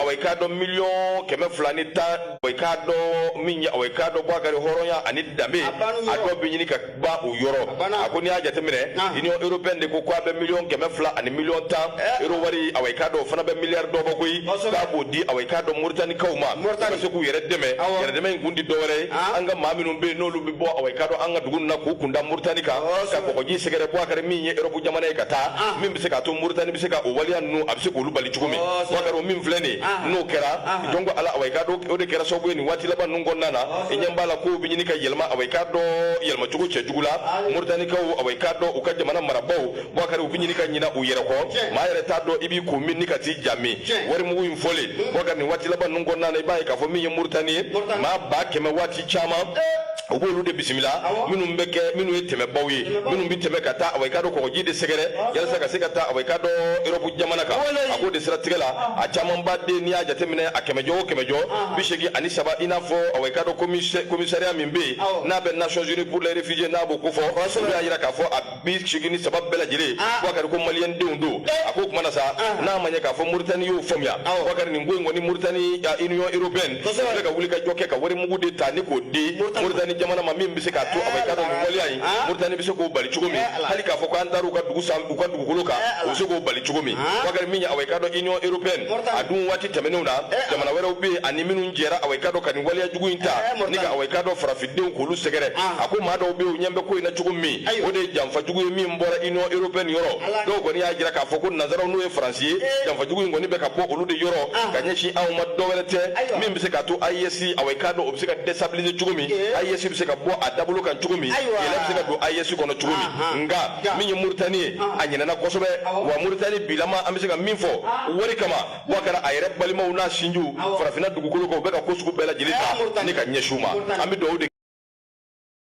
awa i k'a dɔn miliyɔn kɛmɛ fila ni tan awa i k'a dɔn min ye awa i k'a dɔn Boubacar hɔrɔnya ani danbe a dɔ bɛ ɲini ka ban o yɔrɔ a ko n'i y'a jateminɛ union européenne de ko k'a bɛ miliyɔn kɛmɛ fila ani miliyɔn tan eh. euro wari awa i k'a dɔn o fana bɛ miliyari dɔ bɔ koyi k'a b'o di awa i k'a dɔn moritanikaw ma ka se k'u yɛrɛ dɛmɛ yɛrɛdɛmɛ in kun tɛ dɔwɛrɛ ye ah. an ka maa minnu bɛ yen n'olu bɛ bɔ awa i k'a dɔn an ka dugu na k'u kunda moritani kan ka kɔgɔji sɛgɛrɛ Boubacar min ye europe jamana ye ka taa ah. min bɛ se k'a to moritani bɛ se ka o waleya ninnu a bɛ se k'olu bali cogo min Boubacar o min filɛ nin n'o kɛra jɔn ko ala awa i k'a dɔn o de kɛra sababu ye nin waati laban ninnu kɔnɔna na i ɲɛ b'a la kow bɛ ɲini ka yɛlɛma awa i k'a dɔn yɛlɛma cogo cɛjugu la moritanikaw awa i k'a dɔn u ka jamana marabaw Boubacar u bɛ ɲini ka ɲina u yɛrɛ kɔ maa yɛrɛ t'a dɔn i b'i kun min ni ka t'i ja min warimugu in fɔlen Boubacar nin waati laban ninnu kɔnɔna na i b'a ye k'a fɔ min ye moritani ye maa ba kɛmɛ waati caman o b'olu de bisimila minnu bɛ kɛ minnu ye tɛmɛbaw ye minnu bɛ tɛmɛ ka taa awa i k'a dɔn kɔgɔji de sɛgɛrɛ yalasa ka se ka taa awa i k'a dɔn europe jamana kan a k'o de siratigɛ la a camanba de n'i y'a jateminɛ a kɛmɛjɔ o kɛmɛjɔ bi seegin ani saba i n'a fɔ awa i k'a dɔn komisariya min bɛ yen n'a bɛ nations unies pour les réfugiés n'a b'o ko fɔ olu y'a jira k'a fɔ a bi seegin ni saba bɛɛ lajɛlen ah. Boubacar ko maliyɛn denw don eh. a ko o kuma na sa ah. n'a ma ɲɛ k'a fɔ Mauritanie y'o faamuya Boubacar nin ko in kɔni Mauritanie Union européenne bɛ ka wulikajɔ kɛ ka warimugu de ta ni k'o di Mauritanie jamana ma min bɛ se k'a to awa i k'a dɔn nin waleya in ah. Mauritanie bɛ se k'o bali cogo min eh, hali k'a fɔ k'an taara u ka dugu san u ka dugukolo kan eh, u bɛ se k'o bali cogo min Boubacar min ye awa i k'a dɔn Union européenne a dun waati tɛmɛnenw na jamana wɛrɛw bɛ yen ani minnu jɛra awa i k'a dɔn ka nin waleya jugu in ta ni ka awa i k'a dɔn farafin denw k'olu sɛgɛrɛ ah. a ko maa dɔw bɛ yen u ɲɛ bɛ ko in na cogo min o de ye janfajugu ye min bɔra union européenne yɔrɔ dɔw kɔni y'a jira k'a fɔ ko nanzaraw n'o ye faransi ye eh. janfajugu in kɔni bɛ ka bɔ olu de yɔrɔ ah. ka ɲɛsin anw ma dɔ wɛrɛ tɛ min bɛ se k'a to AES awa i k'a dɔn o bɛ se ka destabiliser cogo min AES eh. bɛ se ka bɔ a dabolo kan cogo min kɛlɛ bɛ se ka don AES kɔnɔ cogo min ah, nka min ye Mauritanie ye a ɲinɛna kosɛbɛ wa Mauritanie bilama an bɛ se ka min fɔ wari kama Boubacar a yɛrɛ balimaw n'a sinjiw farafinna dugukolo kan u bɛ ka ko sugu bɛɛ lajɛlen ta ni ka ɲɛsin u ma an bɛ dugawu de